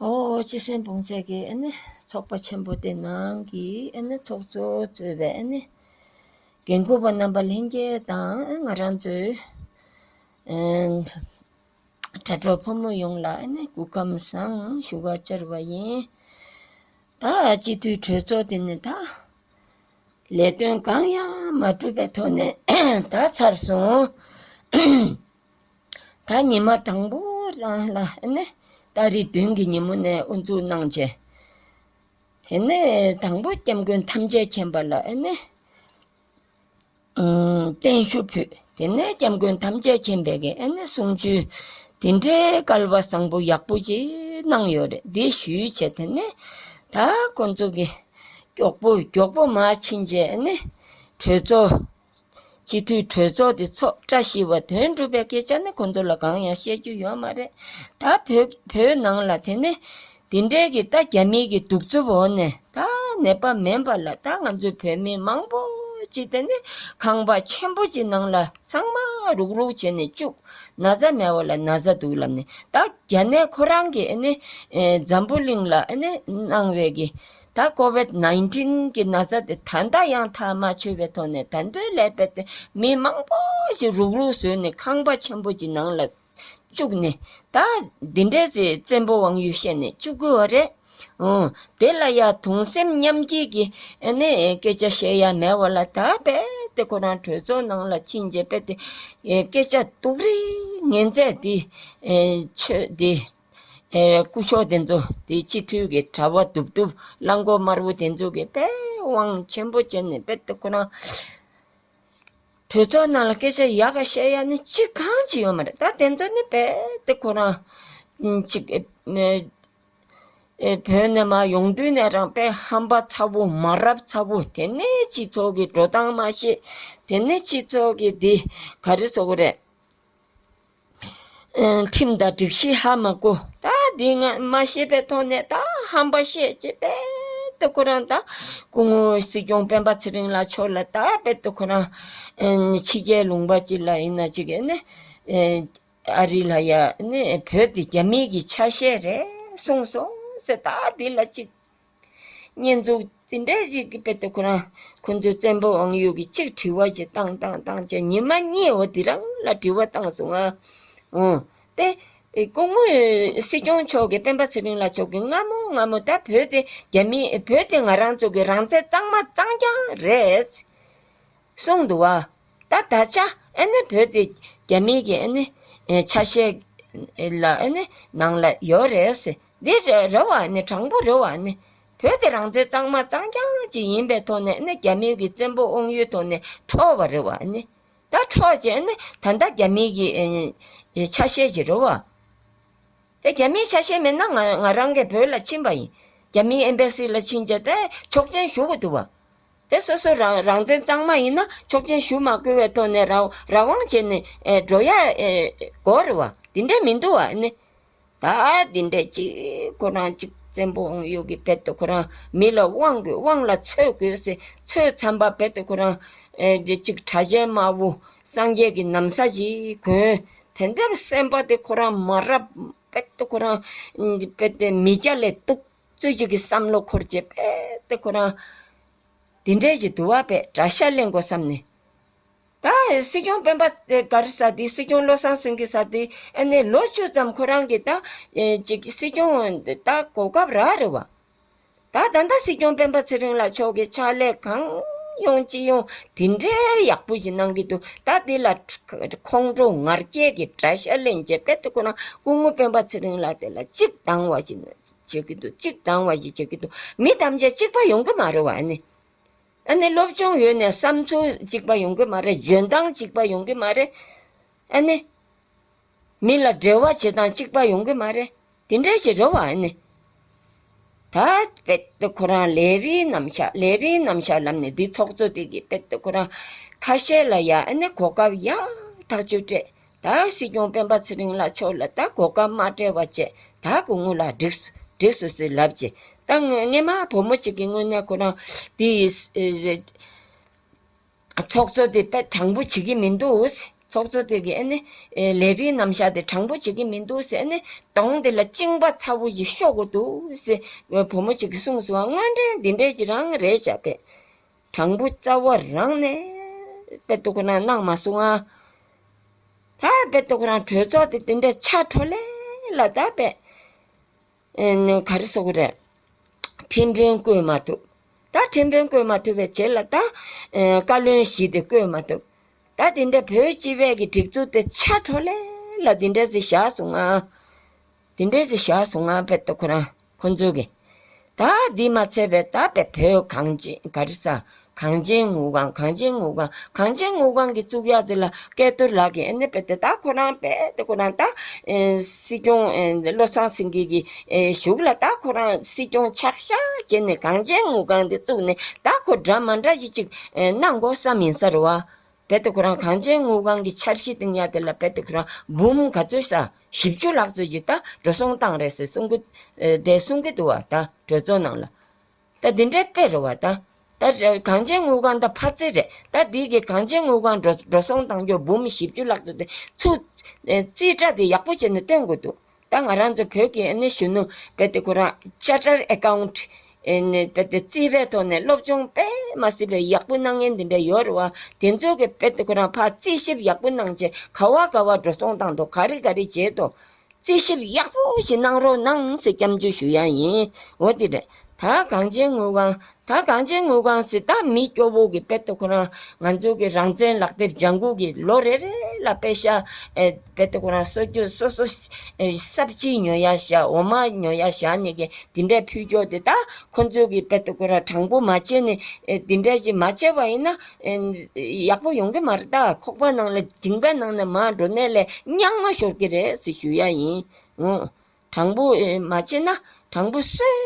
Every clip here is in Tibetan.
ཨོ་ཅི་སེམས་དཔུང་ཚད་ཀྱི་ཨེ་ནི་ཚོགས་པ་ཆེན་པོ་དེ་ནང་གི་ཨེ་ནི་ཚོགས་གཙོ་གཙོས་པའི་ཨེ་ནི་འགན་འཁུར་བ་རྣམ་པ་ལྷན་རྒྱས་དང་ང་རང་ཚོའི་དྲ་གྲོགས་ཕོ་མོ་ཡོངས་ལ་ཨེ་ནི་གུས་ཁམས་བཟང་ཞུ་བ་བཅར་བ་ཡིན། ད་སྤྱི་འཐུས་གྲོས་ཚོགས་དེ་ནི་ད། ལས་དོན་གང་ཡང་མ་བསྒྲུབས་པའི་ཐོག་ནས་ད་ཚར་སོང། ད་ཉི་མ་དང་པོ་རང་ལ་ནི་ད་རེས་བདུན་གྱི་ཉིན་མོ་ནས་དབུ་འཛུགས་གནང་རྗེས། དེ་ནི་དང་པོ་སྐྱབས་མགོན་ཐམས་ཅད་མཁྱེན་པ་ལ་ནི་བརྟན་བཞུགས་ཕུལ། དེ་ནས་སྐྱབས་མགོན་ཐམས་ཅད་མཁྱེན་པའི་གསུང་ཆོས་དེ་འདྲའི་སྐལ་བ་བཟང་པོ་ཡག་པོ་ཞིག་གནང་ཡོད་རེད་འདི་ཞུས་བྱས་དེ་ནས་ད་ཁོང་ཚོ་གིས། མགྱོགས་པོ་མགྱོགས་པོ་མ་ཕྱིན་རྗེས་ནི། གྲོས་ཚོགས། སྤྱི་འཐུས་གྲོས་ཚོགས་དེ་ཚོགས་བཀྲ་ཤིས་པ་དོན་གྲུབ་པའི་སྐད་ཆ་ནི་ཁོ་ཚོ་ལ་གང་ཡང་བཤད་རྒྱུ་ཡོད་མ་རེད། ད་བོད་བོད་ནང་ལ་དེ་ནི། དེ་འདྲའི་གི་ད་རྒྱ་མི་གི་གདུག་རྩུབ་འོག་ནས་ད་ནད་པ་མེན་པ་ལ་ད་ང་ཚོའི་བོད་མི་མང་པོ་ཅིག་དེ་ནི་ཁང་པ་ཆེན་པོ་ཅིག་ནང་ལ། ཚང་མ་རུག་རུག་བྱས་ནས་བཅུག། ན་བཟའ་མེད་བ་ལ་ན་བཟའ་འདུག་ལབ་ནས་ད་ག་ནས་ཁོ་རང་གི་ཨ་ནི་འཛམ་བུ་གླིང་ལ་ཨ་ནི་གནང་བའི་གི་ད་ཀོ་བེད་ནཱིན་ཏིན་གི་ན་བཟའ་དེ་ད་ལྟ་ཡང་ཐག་མ་ཆོད་པའི་ཐོག་ནས་ད་འདོད་ལས་པད་དེ་མི་མང་པོ་ཞིག་རུག་རུག་བཟོས་ནས་ཁང་པ་ཆེན་པོ་ཅིག་ནང་ལ་བཅུག་ནས། ད་འདི་འདྲའི་ཚེ་བཙན་པོ་དབང་ཡུལ་བཤད་ནས་བཅུག་དགོས་བ་རེད། འོང། དེ་ལ་ཡང་དུང་སེམས་མཉམ་སྐྱེད་ཀྱི་ནི་སྐད་ཆ་བཤད་ཡ་མེད་བ་ལ་ད་རྦད་དེ་ཁོ་རང་གྲོས་ཚོགས་ནང་ལ་ཕྱིན་རྗེས་རྦད་དེ་སྐད་ཆ་སྟུག་རེ་ངན་མཛད་དེ། ཆོས་དེ། སྐུ་མཆོག་དེ་ཚོ་དེ་སྤྱི་འཐུས་ཀྱི་དྲ་བ་དུབ་དུབ་རླངས་འཁོར་དམར་བོ་དེ་ཚོ་གི་རྦད་དབང་ཆེན་པོ་བྱས་ནས་རྦད་དེ་ཁོ་རང། དོལ་ཚོགས་རྣམས་ལ་སྐད་ཆ་ཡག་ག་བཤད་ཡ་ནི་ཅི་གང་ཅི་ཡོད་མ་རེད་ད་དེ་ཚོ་ནི་རྦད་དེ་ཁོ་རང་ཅིག་བོད་ནས་མ་ཡོང་དུས་ནས་རང་དཔེ་ཧམ་པ་ཚ་བོ་མ་རབས་ཚ་བོ་དེ་ནས་སྤྱི་ཚོགས་ཀྱི་འགྲོ་སྟངས་མ་ཤེས་དེ་ནས་སྤྱི་ཚོགས་ཀྱི་འདི་ག་རེ་ཟོ་གི་རེད། ཁྲིམས་དང་སྒྲིག་གཞི་ཧ་མ་གོ། ད་འདི་ང་མ་ཤེས་པའི་ཐོག་ནས་ད་ཧམ་པ་བཤད་ཅེས་རྦད་དེ་ཁོ་རང་ད་སྐུ་ངོ་སྲིད་སྐྱོང་སྤེན་པ་ཚེ་རིང་ལགས་མཆོག་ལ་ད་རྦད་དེ་ཁོ་རང་ཕྱི་རྒྱལ་ལུང་པ་ཅིག་ལ་ཡིན་ན་ཅིག་ཨེ་ནི་ཨ་རི་ལ་ཡ་ཨེ་ནི་བོད་འདི་རྒྱ་མིའི་གི་ཆ་ཤས་རེད་གསུངས་སོང་ཟེར་ད་འདི་ལ་ཅིག་བསྙེན་རྫོགས་ཇི་འདྲ་ཞིག་གི་དཔེ་སྟེ་ཁོ་རང་ཁོ་ཚོའི་བཙན་པོ་དབང་ཡུལ་གྱི་ཆིག་དྲི་བ་ཞིག་བཏང་བཏང་བཏང་ཅི་ཉི་མ་གཉིས་འོ་དེ་རང་ལ་དྲི་བ་བཏང་སོང་ང། འོ། ཏེ། སྐུ་ངོ། སྲིད་སྐྱོང་མཆོག་གི་སྤེན་པ་ཚེ་རིང་ལ་མཆོག་གི་སྔ་མོ་སྔ་མོ་ད་བོད་དེ་རྒྱ་མི་བོད་དེ་ང་རང་ཚོ་གི་རང་བཙན་གཙང་མ་གཙང་རྐྱང་རེད། གསུངས་འདུག་བ། ད་ད་ཆ་ཨེ་ནི་བོད་དེ་རྒྱ་མིའི་གི་ཨེ་ནི་ཆ་ཤས་ལ་ཨེ་ནི་ནང་ལ་ཡོད་རེད་སེ་འདི་རེ་བ་ནི་དྲང་པོ་རེད་བ་ནི་བོད་དེ་རང་བཙན་གཙང་མ་གཙང་རྐྱང་གཅིག་ཡིན་པའི་ཐོག་ནས་ཨེ་ནི་རྒྱ་མིའི་གི་བཙན་པོ་དབང་ཡུལ་ཐོག་ནས་འཕྲོག་བ་རེད་བ་ཨེ་ནི་ད་འཕྲོག་ཅེ་ཨེ་ནི་ད་ད་རྒྱ་མིའི་གི་ཆ་ཤས་ཅིག་རེད་བ། དེ་རྒྱ་མིའི་ཆ་ཤས་མེད་ན་ང་ང་རང་གི་བོད་ལ་ཕྱིན་པ་ཡིན་རྒྱ་མིའི་ཨེམ་པའི་སི་ལ་ཕྱིན་ཅེ་ད་ཆོག་མཆན་ཞུ་གི་འདུག་བ། དེ་སོ་སོ་རང་རང་བཙན་གཙང་མ་ཡིན་ན་ཆོག་མཆན་ཞུ་མ་དགོས་བའི་ཐོག་ནས་རང་རང་དབང་བྱས་ནས་འགྲོ་ཡ་གོ་རེད་བ། དེ་འདྲ་མི་འདུག་བ་ནི། ད་དེ་འདྲ་གཅིག་ཁོ་རང་གཅིག་བཙན་པོ་འོང་ཡོད་གི་བེད་དུ་ཁོ་རང་མི་ལ་དབང་དགོས་དབང་ལ་ཚོད་དགོས་སེ་ཚོད་ཚན་པ་བེད་དུ་ཁོ་རང་གཅིག་གྲ་གཞན་དམར་བོ་སངས་རྒྱས་ཀྱི་ནམ་ས་ཞིག་གོན། དེ་འདྲ་བ་སེམས་པ་དེ་ཁོ་རང་མ་རབ་བེད་དུ་ཁོ་རང་བེད་དེ་མི་སྐྱ་ལས་གཏུགས། རྩོད་བྱེད་ཀྱི་བསམ་བློ་འཁོར་རྗེས་དཔེ་དེབ་ཁོ་རང་འདི་འདྲས་ཀྱི་དུ་བ་པས་དགྲ་ཤ་གླེང་དགོས་བསམ་ནས། ད་སྲིད་སྐྱོང་སྤེན་པ་གར་ས་དེ་སྲིད་སྐྱོང་བློ་བཟང་སེང་གེ་ས་དེ་ཨ་ནེ་ལོ་བཅུ་ཙམ་ཁོ་རང་གི་ད་ཅིག་སྲིད་སྐྱོང་ད་གོ་སྐབས་རག་རེད་བ། ད་ད་ལྟ་སྲིད་སྐྱོང་སྤེན་པ་ཚེ་རིང་ལགས་མཆོག་གི་ཕྱག་ལས་གང་ཡོང་ཅི་ཡོང་དེ་འདྲའི་ཡག་པོ་ཞིག་གནང་གི་འདུག་ད་དེ་ལ་ཁོང་ཁྲོ་ངར་སྐྱེད་ཀྱི་དགྲ་ཤ་གླེང་རྗེས་དཔེ་དེབ་ཁོ་རང་སྐུ་ངོ་སྤེན་པ་ཚེ་རིང་ལགས་དེ་ལ་གཅིག་སྡང་བ་ཞིག་བྱེད་ཀྱི་འདུག་གཅིག་དང་བ་ཞིག་བྱེད་ཀྱི་འདུག་མི་ཐམས་ཅད་གཅིག་པ་ཡོང་གི་མ་རེད་བ་ཨ་ནི། ཨ་ནི་སློབ་སྦྱོང་ཡོད་ནས་བསམ་ཚུལ་གཅིག་པ་ཡོང་གི་མ་རེད་འཇོན་ཐང་གཅིག་པ་ཡོང་གི་མ་རེད། ཨ་ནི། མི་ལ་འབྲེལ་བ་བྱེད་སྟངས་གཅིག་པ་ཡོང་གི་མ་རེད། དེ་འདྲ་ཞིག་རེད་བ་ཨ་ནི། ད་དཔེ་ཏོ་ཁོ་རང་ལས་རིགས་རྣམ་བཞག་ལས་རིགས་རྣམ་བཞག་ལབ་ནས་འདི་ཚོགས་གཙོ་དེ་གིས་དཔེ་ཏོ་ཁོ་རང་ཁ་ཤས་ལ་ཡ་ཨ་ནི་གོ་སྐབས་ཡག་ཐག་ཆོད་སྤྲད་ད་སྲིད་སྐྱོང་སྤེན་པ་ཚེ་རིང་ལགས་མཆོག་ལ་ད་གོ་སྐབས་མ་བྲལ་བ་བཅས་ད་གོ་ངོ་ལ་བསྒྲིགས་བསྒྲིགས་སུ་ཟིག་ལབ་ཀྱི། ད་སྔོནངས་མ་བུ་མོ་གཅིག་གི་སྔོན་ནས་ཁོ་རང་དེ་ཡི་ཚོགས་གཙོ་དེ་དཔེ་དྲང་པོ་བྱེད་ཀྱི་མི་འདུག་ཚོགས་གཙོ་དེ་གི་ཨེ་ནི་ལས་རིགས་རྣམ་བཞག་དེ་དྲང་པོ་བྱེད་ཀྱི་མི་འདུག་ཨེ་ནི་གདོང་དེ་ལ་བཅིངས་པ་ཚ་བོ་ཞིག་ཤོག་གི་འདུག་བུ་མོ་གཅིག་གིས་གསུངས་སོང་བ་དངོས་འབྲེལ་འདི་འདྲས་ཀྱི་རང་རེད་བྱ་བས། དྲང་པོ་རྩ་བ་རང་ནས་དཔེ་ཏོག་རང་གནང་མ་སོང་ཨ། ད་དཔེ་ཏོག་རང་གྲོས་ཚོགས་དེ་དེ་འདྲའི་ཆགས་འཕྲོ་ལས་ལ་ད་དཔེ། ག་རེ་སོགས་རེད། ཁྲིམས་དཔོན་བསྐོས་མ་ཐུབ། ད་ཁྲིམས་དཔོན་བསྐོས་མ་ཐུབ་པའི་ཆེད་ལ་ད། བཀའ་བློན་བཞི་དེ་བསྐོས་མ་ཐུབ། ད་དེ་འདྲའི་བོད་སྤྱི་བས་ཀྱི་སྒྲིག་འཛུགས་དེ་ཆགས་འཕྲོ་ལས་ལ་དེ་འདྲའི་ཟིག་བཞག་སོང་ཨ། དེ་འདྲའི་གཟིགས་ཞགས་སུ་བསྔགས་པའི་སྟོབས་ཁོ་རང་ཁོ་ཚོ་གི། དག་འདི་མ་འཚལ་བས་དག་པའི་བུ་གངས་ཅན་ག་རེ་ས། གངས་ཅན་ངུ་གང་གངས་ཅན་ངུ་གང་གངས་ཅན་ངུ་གང་གི་གཙུག་ཡག་འདི་ལ་སྐལ་རྡོར་ལགས་ཀྱིས་ཨེ་ནི་པད་དེ་དག་ཁོ་རང་པད་དེ་ཁོ་རང་དག་སྲིད་སྐྱོང་བློ་བཟང་སེང་གེ་གི་བཞུགས་ལ་དག་ཁོ་རང་སྲིད་སྐྱོང་ཆགས་ཤག་བྱེད་ནས་གངས་ཅན་ངུ་གང་འདི་བཙུགས་ནས་དག་ཁོ་འདྲ་མ་འདྲ་ཞིག་ཅིག་གནང་དགོ་བསམ་ཡིན་ས་རུ་བ། བེ་ཏོ་ཁོ་རང་གངས་ཅན་དངུལ་ཁང་གི་འཆར་གཞི་སྟེང་གཡག་དེ་ལ་བེ་ཏོ་ཁོ་རང་འབུམ་ག་ཚོད་ས་བཞི་བཅུ་ལྷག་ཚོད་ཀྱི་ད་འགྲོ་སོང་བཏང་རེད་ཟེར་གསུང་གི་བསྡད་གསུང་གི་འདུག་བ་ད་གྲོས་ཚོགས་ནང་ལ། ད་འདི་འདྲའི་དཔེ་རེད་བ་ད། ད་གངས་ཅན་དངུལ་ཁང་ད་ཕར་ཚད་རེད་ད་འདི་གི་གངས་ཅན་དངུལ་ཁང་འགྲོ་འགྲོ་སོང་བཏང་རྒྱུ་འབུམ་བཞི་བཅུ་ལྷག་ཚོད་དེ་ཚུ་རྩིས་ཁྲ་དེ་ཡག་པོ་བྱས་ནས་སྟོན་དགོས་འདུག། ད་ང་རང་ཚོ་བོད་ཀྱི་ཨནི་གཞོན་ནུ་བེ་ཏི་ཁོ་རང Charter Account བེ་ཏི་རྩིས་པའི་ཐོག་ནས་སློབ་སྦྱོང་དཔེ་མ་སི་པའི་ཡག་པོ་གནང་མཁན་འདི་འདྲ་ཡོད་རེད་བ། དེ་ཚོ་གི་བེ་ཏི་ཁོ་རང་ཕ་རྩིས་ཞིབ་ཡག་པོ་གནང་རྗེས་ག་བ་ག་བ་འགྲོ་སོང་བཏང་འདུག་ག་རེ་ག་རེ་བྱེད་དུ། རྩིས་ཞིབ་ཡག་པོ་ཞིག་གནང་རོགས་གནང་ཟེར་སྐྱབས་འཇུག་ཞུ་ཡག་ཡིན་འོ་དེ་རེད། ད་གངས་ཅན་དངུལ་ཁང། ད་གངས་ཅན་དངུལ་ཁང་ཟི་ད་མི་སྐྱོ་བོ་གི་དཔེ་ཏོ་ཁོ་རང་ང་ཚོ་གི་རང་བཙན་ལག་དེབ་ལྗང་གུ་གི་ལོ་རེ་རེ་ལ་དཔེ་ཤ་དཔེ་ཏོ་ཁོ་རང་སོ་ཀྱོ་སོ་སོ་སྲབ་གཅིག་ཉོ་ཡ་ཤ་འོ་མ་ཉོ་ཡ་ཤ་ནི་གི་དེ་འདྲའི་ཕུལ་སྐྱོ་དེ་ད་ཁོ་ཚོ་གི་དཔེ་ཏོ་ཁོ་རང་དྲང་པོ་མ་བྱེད་ནི་དེ་འདྲའི་ཅིག་མ་བྱེད་པ་ཡིན་ན་ཡག་པོ་ཡོང་གི་མ་རེད་ད་ཁོག་པ་ནང་ལ་དྲིང་པའི་ནང་ན་མ་འགྲོ་ནས་ལས་རྙང་མ་ཤོར་གི་རེད་ཟི་ཞུ་ཡ་ཡིན། དྲང་པོ་མ་བྱས་ན་དྲང་པོ་གསོལ།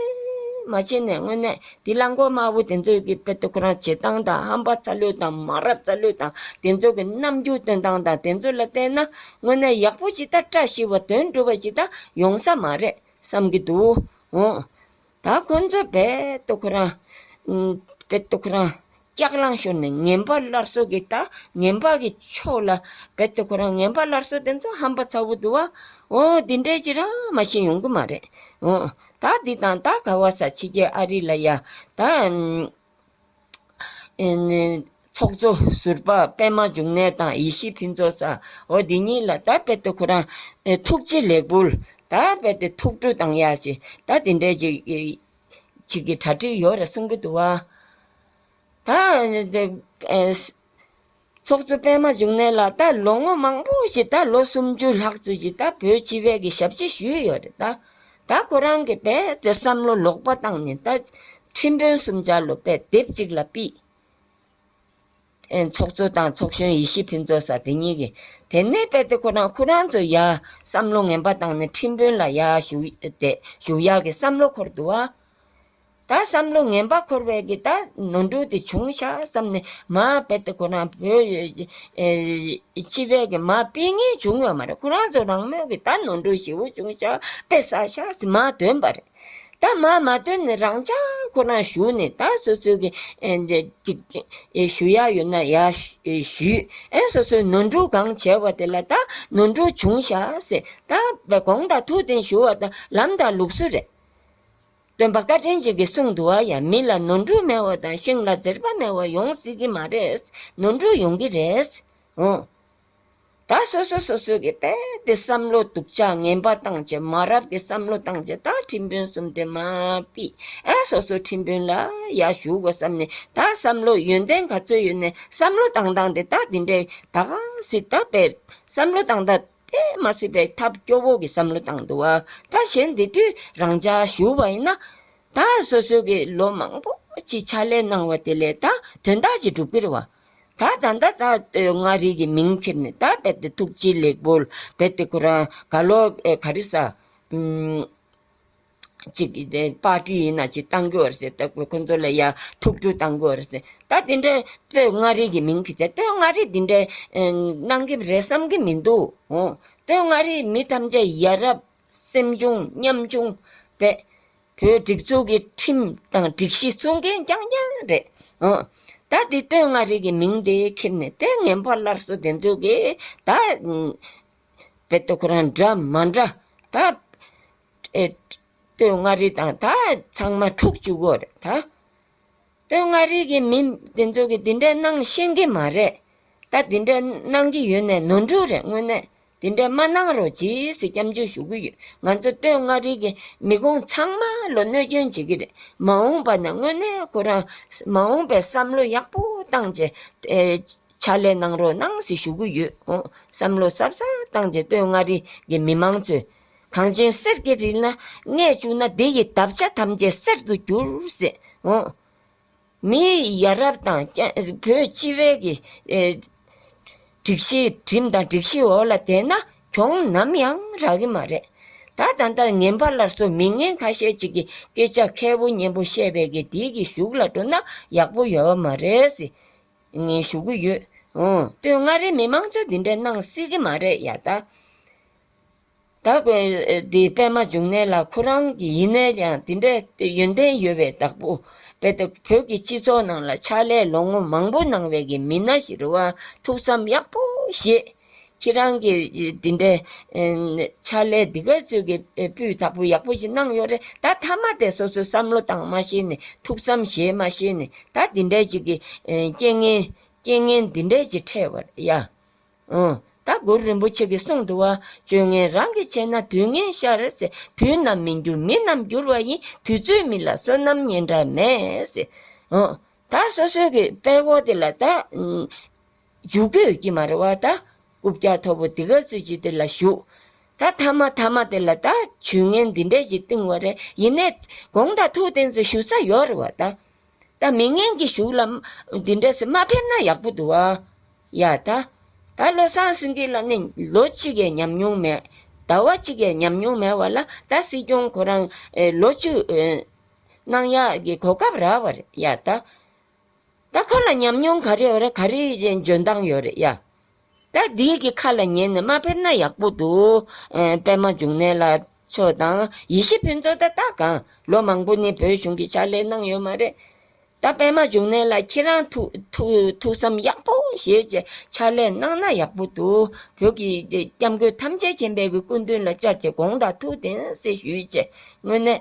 མ་བྱས་ནས་དངོས་གནས་དེ་གླང་མགོ་དམར་པོ་དེ་ཚོ་གི་པད་དུ་ཁོ་རང་བྱེད་སྟངས་དང་ཧམ་པ་ཚ་ལུད་དང་མ་རབས་ཚ་ལུད་དང་དེ་ཚོ་གི་རྣམ་འགྱུར་སྟོན་སྟངས་དང་དེ་ཚོ་ལ་བལྟས་ན་དངོས་གནས་ཡག་པོ་ཇི་ལྟར་བཀྲ་ཤིས་པ་དོན་འགྲུབ་པ་ཇི་ལྟར་ཡོང་ས་མ་རེད་བསམ་གྱི་འདུག་འོང། ད་ཁོ་ཚོས་བལ་ཏོ་ཁོ་རང། བལ་ཏོ་ཁོ་རང། སྐྱག་རླངས་ཤོར་ནས་ངན་པ་སླར་གསོ་གི་ད་ངན་པ་གི་ཕྱོགས་ལ། བལ་ཏོ་ཁོ་རང་ངན་པ་སླར་གསོ་དེ་ཚོ་ཧམ་པ་ཚ་བོ་འདུག་བ། འོ་འདི་འདྲའི་ཅི་རང་མ་ཤེས་ཡོང་གི་མ་རེད། འོ་ད་འདི་དང་ད་ག་བ་ས་ཕྱི་རྒྱལ་ཨ་རི་ལ་ཡ། ད། ཚོགས་གཙོ་ཟུར་པ་པད་མ་འབྱུང་གནས་དང་ཡེ་ཤེས་ཕུན་ཚོགས་ས་འོ་འདི་གཉིས་ལ་ད་རྦད་དུ་ཁོ་རང་ཐུགས་རྗེ་ལེགས་འབུལ། ད་རྦད་དུ་ཐུགས་སྤྲོ་དང་ཡ་ཞེས་ད་འདི་འདྲའི་ཅིག་གི་གྲ་སྒྲིག་ཡོད་རེད་གསུང་གི་འདུག་བ། ད། ཚོགས་གཙོ་པད་མ་འབྱུང་གནས་ལགས་ད་ལོ་ངོ་མང་པོ་ཞིག་ད་ལོ་སུམ་ཅུ་ལྷག་ཙུ་ཞིག་ད་བོད་སྤྱི་བས་ཀྱི་ཞབས་ཕྱི་ཞུས་ཡོད་རེད་ད། ད་ཁོ་རང་གི་བལ་དེ་བསམ་བློ་ལོག་པ་བཏང་ནས་ད་ཁྲིམས་དཔོན་གསུམ་ཅར་ལོ་པད་དེབ་ཅིག་ལ་པིས། ཚོགས་གཙོ་དང་ཚོགས་གཞོན་ཡེ་ཤེས་ཕུན་ཚོགས་ས་དེ་གཉིས་ཀྱི་དེ་ནས་བལ་དེ་ཁོ་རང་ཁོ་རང་ཚོ་ཡ་བསམ་བློ་ངན་པ་བཏང་ནས་ཁྲིམས་དཔོན་ལ་ཡ་ཞུ་ཡག་གི་བསམ་བློ་འཁོར་འདུག་བ། ད་བསམ་བློ་ངན་པ་འཁོར་བས་ཀྱི་ད་ནོར་འཁྲུལ་དེ་བྱུང་ཤག་བསམ་ནས་མ་དཔེ་ཏེ་ཁོ་རང་བོད་ཡུལ་སྤྱི་བས་ཀྱི་མ་དཔེ་ངན་བྱུང་བ་མ་རེད་ཁོ་རང་ཚོ་རང་མོས་ཀྱི་ད་ནོར་འཁྲུལ་ཞེ་བོ་བྱུང་ཤག་དཔེ་ས་ཤག་ཟེར་མ་དོན་པ་རེད། ད་མ་མ་དོན་ནས་རང་ཅག་ཁོ་རང་ཞུ་ནས་ད་སོ་སོའི་ཀྱི་ཞུ་ཡག་ཡོད་ན་ཡག་ཞུས་ཨེ་སོ་སོའི་ནོར་འཁྲུལ་གང་བྱས་བ་དེ་ལ་ད་ནོར་འཁྲུལ་བྱུང་ཤག་ཟེར་ད་གོང་དང་ཐུགས་བདེན་ཞུ་བ་ད་ལམ་དང་ལུགས་སྲོལ་རེད། སྟོན་པ་བཀའ་དྲིན་ཅན་གྱི་གསུང་དུ་བ་ཡང་མི་ལ་ནོར་འཁྲུལ་མེད་བ་དང་ཤིང་ལ་ཛེར་བ་མེད་བ་ཡོང་སྲིད་ཀྱི་མ་རེད། ནོར་འཁྲུལ་ཡོང་གི་རེད། འོང། ད་སོ་སོ་སོ་སོའི་གི་དཔེ་དེ་བསམ་བློ་སྡུག་ཅག་ངན་པ་བཏང་ཆེད་མ་རབས་ཀྱི་བསམ་བློ་བཏང་ཆེད་ད་ཁྲིམས་དཔོན་གསུམ་དེ་མ་པི་ཨ་སོ་སོ་ཁྲིམས་དཔོན་ལ་ཡ་ཞུགས་གོ་བསམ་ནས་ད་བསམ་བློ་ཡོན་ཏན་ག་ཚོད་ཡོད་ནས་བསམ་བློ་བཏང་བཏང་དེ་ད་དེ་འདྲའི་ད་ག་སྲིད་ད་བེད་བསམ་བློ་བཏང་ད། དེ་མ་སྲིད་པའི་ཐབས་སྐྱོ་བོ་གི་བསམ་བློ་བཏང་འདུག་བ་ད་གཞན་འདི་དུས་རང་ཅག་ཞུ་བ་ཡིན་ན། ད་སོ་སོ་གི་ལོ་མང་པོ་གཅིག་ཕྱག་ལས་གནང་བ་དེ་ལས་ད་དོན་དག་ཅིག་འགྲུབ་གི་རེད་བ། ད་ད་ད་ད་ལྟོས་མངའ་རིས་ཀྱི་མིང་འཁྱེར་ནས་ད་རྦད་དེ་ཐུགས་རྗེ་ལེགས་པོ་རྦད་དེ་ཁོ་རང་དགའ་ལོ་ག་རེ་ཟ། གཅིག་གིས་དེ་པར་ཏི་ཡིན་ན་ཅིག་གཏང་གི་འོ་རེད་ཟེར་ཁོ་ཚོ་ལ་ཡ་ཐུག་རྒྱུ་གཏང་གི་འོ་རེད་ཟེར་ད་དེ་འདྲའི་སྟོད་མངའ་རིས་ཀྱི་མིང་གིས་བྱས་སྟོད་མངའ་རིས་དེ་འདྲའི་གནང་གི་རེད་བསམ་གི་མི་འདུག་ཧོ་སྟོད་མངའ་རིས་མི་ཐམས་ཅད་ཡ་རབས་སེམས་ཆུང་ཉམ་ཆུང་བས་བོད་སྒྲིག་འཛུགས་ཀྱི་ཁྲིམས་དང་སྒྲིག་གཞི་སྲུང་མཁན་རྐྱང་རྐྱང་རེད་ཧོ། ད་དེ་སྟོད་མངའ་རིས་ཀྱི་མིང་དེ་ཁེབས་ནས་ལྟས་ངན་པ་སླར་གསོ་དེ་ཚོ་གིས་ད། བོད་དོ་ཁོ་རང་འདྲ་མ་འདྲ་ད། སྟོད་མངའ་རིས་དང་ད་ཚང་མ་འཁྲུག་བཅུག་གོ་རེད་ད། སྟོད་མངའ་རིས་ཀྱི་མི་དེ་ཚོ་གི་དེ་འདྲའི་གནང་ཤེས་ཀྱི་མ་རེད། ད་དེ་འདྲའི་གནང་གི་ཡོད་ནའི་ནོར་འཁྲུལ་རེད་དངོས་གནས་དེ་འདྲའི་མ་གནང་རོགས་ཇི་སྲིད་སྐྱབས་འཇུག་ཞུ་གི་ཡོད། ང་ཚོ་སྟོད་མངའ་རིས་ཀྱི་མི་དགོང་ཚང་མ་ལོ་གནོད་སྐྱོན་བྱེད་ཀྱི་རེད་མ་འོངས་པ་ནས་དངོས་གནས་ཁོ་རང་མ་འོངས་པའི་བསམ་བློ་ཡག་པོ་བཏང་རྗེས་ཕྱག་ལས་གནང་རོགས་གནང་སྲིད་ཞུ་གི་ཡོད། བསམ་བློ་ཟབ་ཟབ་བཏང་རྗེས་སྟོད་མངའ་རིས་ཀྱི་མི་མང་ཚོས་གངས་ཅན་གསེར་གྱི་རི་ན་གནས་བཅུག་ན་འདི་ཡི་འདབ་ཆགས་ཐམས་ཅད་གསེར་དུ་འགྱུར། མིའི་ཡ་རབས་དང་བོད་སྤྱི་བའི་གི་སྒྲིག་གཞི་གྲིམ་དང་སྒྲིག་གཞི་འོག་ལ་བསྡད་ན་གྱོང་ནམ་ཡང་རག་གི་མ་རེད། ད་ད་ལྟ་ངན་པ་སླར་གསོ་མི་ངན་ཁ་ཤས་ཅིག་གི་སྐད་ཆ་མཁས་པོ་སྙན་པོ་བཤད་པའི་གི་འདི་གི་གཞུག་ལ་འགྲོ་ན་ཡག་པོ་ཡོད་མ་རེད། ཞུ་གི་ཡོད། སྟོད་མངའ་རིས་མི་མང་ཚོས་འདི་འདྲའི་གནང་སྲིད་གི་མ་རེད་ཡ་ད། བདག་པོ་དེའི་པད་མ་འབྱུང་གནས་ལ་ཁོ་རང་གི་ཡིན་ནའི་ཀྱང་དེ་འདྲའི་ཡོན་ཏན་ཡོད་པའི་བདག་པོ་བས་ཏེ་བོད་ཀྱི་སྤྱི་ཚོགས་ནང་ལ་ཕྱག་ལས་ལོ་ངོ་མང་པོ་གནང་བའི་གི་མི་སྣ་ཞིག་རུ་བ་ཐུགས་བསམ་ཡག་པོ་བཞེས། ཁྱེད་རང་གི་དེ་འདྲའི་ཕྱག་ལས་འདི་ག་ཚོད་ཀྱི་སྤུས་དག་པོ་ཡག་པོ་ཞིག་གནང་ཡོད་རེད་ད་ཐ་མ་དེ་སོ་སོའི་བསམ་བློ་བཏང་མ་ཤེས་ནས་ཐུགས་བསམ་བཞེས་མ་ཤེས་ནས་ད་དེ་འདྲའི་ཅིག་གི་རྐྱེན་ངན་རྐྱེན་ངན་དེ་འདྲའི་ཅིག་འཕྲད་པར་ཡ། ཨང། ད་གུ་རུ་རིན་པོ་ཆེ་གི་གསུང་དུ་བ་བཅོས་ངན་རང་གིས་བྱས་ན་དུས་ངན་ཤར་རེད། དུས་རྣམས་མི་འགྱུར་མི་རྣམས་འགྱུར་བ་ཡིན་དུས་ཚོད་མི་ལ་བསོད་ནམས་ཉེན་འདྲ་མེད། ཨང། ད་སོ་སོའི་གི་དཔལ་འཁོར་དེ་ལ་ད། འཇུག་གི་ཡོད་ཀྱི་མ་རེད་བ་ད། སྐུ་བཀྱག་མཐོ་པོ་དེ་ག་ཚོད་ཅིག་དེ་ལ་བཞུགས། ད་མཐའ་མ་མཐའ་མ་དེ་ལ་ད་ཇུས་ངན་འདི་འདྲས་ཅིག་བཏིང་བ་རེད་ཡིན་ནས། དགོངས་དག་ཐུགས་བརྟན་ཚོ་ཞུ་ས་ཡོད་རེད་བ་ད། ད་མི་ངན་གྱི་གཞུག་ལ། འདི་འདྲ་ཞིག་མ་ཕེབས་ན་ཡག་པོ་འདུག་ཨ། ཡ་ད། ད་བློ་བཟང་སེང་གེ་ལ་ནི་ལོ་གཅིག་གི་ཉམས་མྱོང་མེད། ཟླ་བ་གཅིག་གི་ཉམས་མྱོང་མེད་བ་ལ་ད་སྲིད་སྐྱོང་ཁོ་རང། ལོ་བཅུ། གནང་ཡག་གི་གོ་སྐབས་རག་བ་རེད་ཡ་ད། ད་ཁོ་ལ་ཉམས་མྱོང་ག་རེ་ཡོད་རེད་ག་རེའི་འཇོན་ཐང་ཡོད་རེད་ཡ། ད་བདུད་ཀྱི་ཁ་ལ་ཉན་ནས་མ་ཕེབས་ན་ཡག་པོ་འདུག། པད་མ་འབྱུང་གནས་ལ་ཆོས་དང་ཡེ་ཤེས་ཕུན་ཚོགས་ད་ལྟ་གང་ལོ་མང་པོ་ནས་བོད་གཞུང་གི་ཕྱག་ལས་གནང་ཡོད་མ་རེད། ད་པད་མ་འབྱུང་གནས་ལ་ཁྱེད་རང་ཐུགས་བསམ་ཡག་པོ་བཞེས་ཀྱི་ཕྱག་ལས་གནང་ན་ཡག་པོ་འདུག་བོད་ཀྱི་སྐྱབས་མགོན་ཐམས་ཅད་མཁྱེན་པའི་སྐུ་མདུན་ལ་བཅར་གྱི་དགོངས་དག་ཐུགས་གཏན་སྲིད་ཞུས་རྗེས་དངོས་གནས།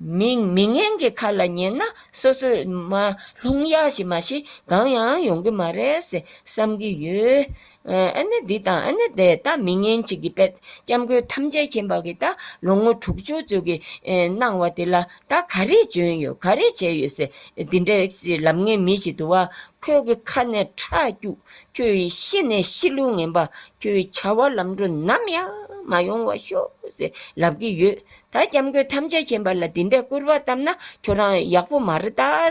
མིང་མི་ངན་གྱི་ཁ་ལ་ཉན་ན་སོ་སོས་མ་ལྷུང་ཡ་ཞིག་མ་ཤི་གང་ཡང་ཡོང་གི་མ་རེད་ཟེ་བསམ་གི་ཡོད། ཨ་ནེ་འདི་དང་ཨ་ནེ་དེ་ད་མི་ངན་གཅིག་གི་པད་སྐྱ་མགོའི་ཐམས་ཅད་ཁྱེན་པ་གི་ད་ལོ་ངོ་དྲུག་ཅུ་ཚོད་ཀྱི་གནང་བ་དེ་ལ་ད་ག་རེ་འཇོན་ཡོད་ག་རེ་བྱས་ཡོད་ཟེ་འདི་འདྲ་ཞིག་ལབ་ངན་མི་ཞིག་འདུག་བ་ཁོས་གི་ཁ་ནས་ཁྲག་སྐྱུག་ཁྱོད་ཡི་ཤི་ནས་ཤི་ལུག་ངན་པ་ཁྱོད་ཡི་བྱ་བ་ལམ་འགྲོ་ནམ་ཡང་མ་ཡོང་བ་ཤོག་ཟེ་ལབ་གི་ཡོད། ད་སྐྱབས་མགོན་ཐམས་ཅད་མཁྱེན་པ་ལ་འདི་འདྲའི་སྐུར་བ་བཏབ་ན་ཁྱོད་རང་ཡག་པོ་མ་རེད་དཱ།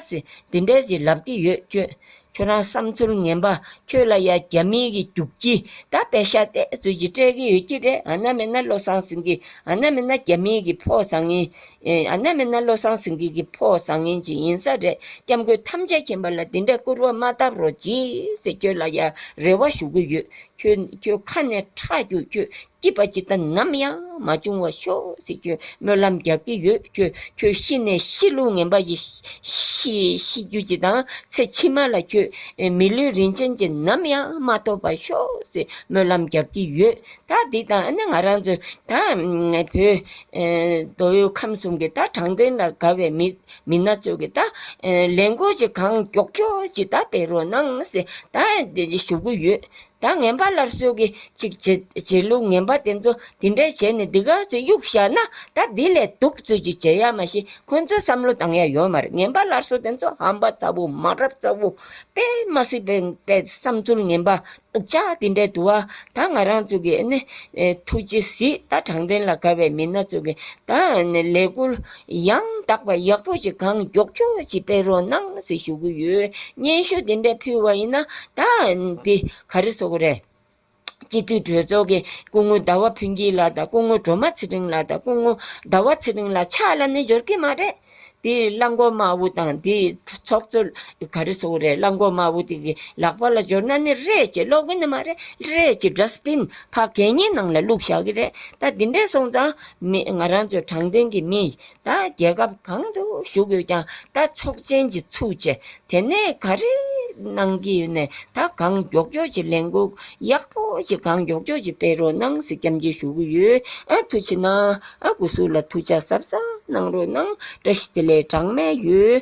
འདི་འདྲའི་ཞིག་ལབ་ཀྱི་ཡོད་ཁྱོད། ཁྱོད་རང་བསམ་ཚུལ་ངན་པ་ཁྱོད་ལ་ཡ་རྒྱ་མིའི་གི་རྒྱུགས་ཁྱི་ད་པད་ཤ་ཏས་ཚུལ་གྱི་སྤྲད་ཀྱི་ཡོད་ཀྱི་རེད་ཨ་ན་མེད་ན་བློ་བཟང་སེང་གེ་ཨ་ན་མེད་ན་རྒྱ་མིའི་གི་ཕོ་བཟང་ཡིན། ཨ་ན་མེད་ན་བློ་བཟང་སེང་གེ་གི་ཕོ་བཟང་ཡིན་གྱི་ཡིན་ས་རེད་སྐྱབས་མགོན་ཐམས་ཅད་མཁྱེན་པ་ལ་འདི་འདྲའི་སྐུར་བ་མ་བཏབ་རོགས་གྱིས། ཁྱོད་ལ་ཡ་རེ་བ་ཞུ་གི་ཡོད་ཁྱོད་ཁྱོད་ཁ་ནས་ཁྲག་རྒྱུགས་ཁྱོད་སྐྱིད་པ་ཅིག་དང་ནམ་ཡང་མ་བྱུང་བར་ཤོག་ཟེར་གྱི་སྨོན་ལམ་རྒྱག་གི་ཡོད། ཁྱོད་ཤི་ནས་ཤི་ལུགས་ངན་པ་ཞིག་ཤི་རྒྱུ་ཅིག་དང་ཚེ་ཕྱི་མ་ལ་ཁྱོད་མི་ལུས་རིན་ཆེན་ཅིག་ནམ་ཡང་མ་ཐོབ་པར་ཤོག་ཟེར་སྨོན་ལམ་རྒྱག་གི་ཡོད། ད་འདི་དང་ཨ་ནེ་ང་རང་ཚོ་ད་བོད་མདོ་དབུས་ཁམས་གསུམ་གྱི་ད་དྲང་བདེན་ལ་དགའ་བའི་མི་སྣ་ཚོ་གི་ད་ལས་འགོ་ཅིག་གང་མགྱོགས་མགྱོགས་ཅིག་ད་སྤེལ་རོགས་གནང་ཟེར་ད་ཞུ་གི་ཡོད། ད་ངན་པ་ལར་སོལ་གི་ཅིག་བྱེད་ལུགས་ངན་པ་དེ་ཚོ་དེ་འདྲས་བྱས་ནས་འདི་ག་ཚོད་གཡུག་བཞག་ན་ད་དེ་ལས་སྡུག་ཚོད་ཅིག་བྱེད་ཡ་མ་ཤེས་ཁོ་ཚོའི་བསམ་བློ་དང་ཡ་ཡོད་མ་རེད་ངན་པ་ལར་སོལ་དེ་ཚོ་ཧམ་པ་ཚ་བོ་མ་རབས་ཚ་བོ་དཔེ་མ་སྲིད་པའི་བསམ་ཚུལ་ངན་པ་སྡུག་ཅག་དེ་འདྲས་དུ་བ་ད་ང་རང་ཚོ་གི་ཨ་ནེ་ཐུགས་རྗེ་གཟིགས་ད་དྲང་བདེན་ལ་དགའ་བའི་མི་སྣ་ཚོ་གི་ད་ནི་ལས་འགུལ། ཡང་དག་པ་ཡག་པོ་ཞིག་གང་མགྱོགས་ཁྱོད་ཀྱིས་སྤེལ་རོགས་གནང་ཟེར་ཞུ་གི་ཡོད། སྙན་ཞུ་འདི་འདྲ་ཕུལ་བ་ཡིན་ན་ད་འདི་ག་རེ་བཟོ་གི་རེད། སྤྱི་འཐུས་གྲོས་ཚོགས་ཀྱི་སྐུ་ངོ་ཟླ་བ་ཕུན་སྐྱིད་ལགས་དང་སྐུ་ངོ་གྲོ་མ་ཚེ་རིང་ལགས་དང་སྐུ་ངོ་ཟླ་བ་ཚེ་རིང་ལགས་ཕྱག་ལ་ནི་འབྱོར་གི་མ་རེད། དེ་གླ་མགོ་དམར་བོ་དང་དེ་ཚོགས་གཙོ་ག་རེ་བཟོ་གི་རེད་གླ་མགོ་དམར་བོ་དེ་གི་ལག་པ་ལ་འབྱོར་ན་ནི་རེད་ཅེས་ཀློག་གི་ནི་མ་རེད་རེད་ཅེས་སྒྲ་སྤིན་ཕག་གད་སྙིགས་ནང་ལ་བླུགས་བཞག་གི་རེད་ད་འདི་འདྲས་སོང་ཙང་མེད། ང་རང་ཚོ་དྲང་བདེན་གྱི་མི་ཡིན། ད་རྒྱལ་ཁབ་གང་དུ་བཞུགས་ཡོད་ཀྱང་ད་ཚོགས་ཆེན་གྱི་ཚུགས་ཆེ། དེ་ནས་ག་རེ་གནང་གི་ཡོད་ནས་ད་གང་མགྱོགས་མགྱོགས་ཀྱི་ལས་འགུག་ཡག་པོ་ཞིག་གང་མགྱོགས་མགྱོགས་ཀྱི་སྤེལ་རོགས་གནང་ཟེར་སྐྱབས་མཆི་ཞུ་གི་ཡོད། ཨ་ཐུགས་ཆེ་གནང། ཨ་དགོས་ཟུར་ལ་ཐུགས་ཆ་ཟབ་ཟབ་གནང་རོགས་གནང་བཀྲ་ཤིས་བདེ་ལེགས་གྲངས་མེད་ཡོད།